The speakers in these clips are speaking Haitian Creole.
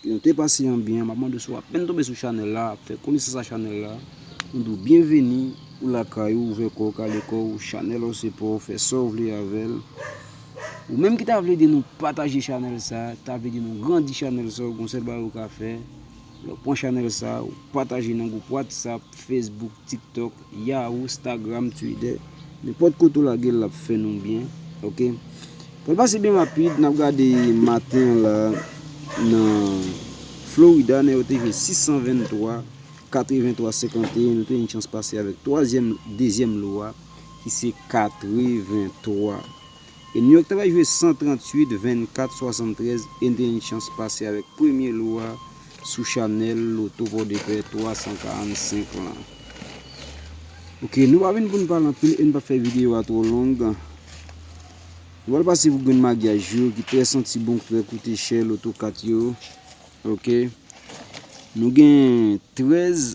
Yon te pase an byen map mande si w apèn tonbe sou chanèl la ap fè konesans a chanèl la nou di w byenveni ou lakay ou ouvè kò w kale kò w chanèl w se pa w fè sa w vle avè l ou menm ki ta vle ede nou pataje chanèl sa ta vle ede nou grandi chanèl sa w gon sèl bagay ou ka fè pran chanèl sa w pataje nan gwoup whatsapp, facebook. Tiktok, Yahoo, Stagram, Twitter nenpòt kote ou lagel lap fè nou byen ok pral pase byen rapid nap gade maten an la nan Florida nèg yo te jwe 623 83 51 nou te gen chans pase avèk twazyèm dezyèm lo a ki se 83. e New York ta pral jwe 138, 24, 73 e n te gen yon chans pase avèk premye lou a sou chanèl loto pòdepè 345 lan. Ok nou pa vin pou n pale anpil e n pap fè videyo a twò long. Nou pral pase pou grenn magyaj yo ki trè santi bon ki trè koute chè loto kat yo. Ok nou gen 13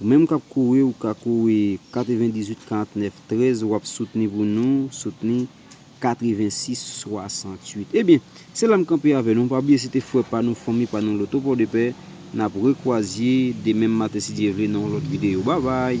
Ou menm kap kouri ou ka kouri 98 49 13 wap soutni pou nou soutni 86 68 ebyen se la m kanpe avè nou pa bliye se te frè pa nou fanmi pa nou loto pòdepè nap rekwazye demenm maten si Dye vle nan yon lòt videyo babay.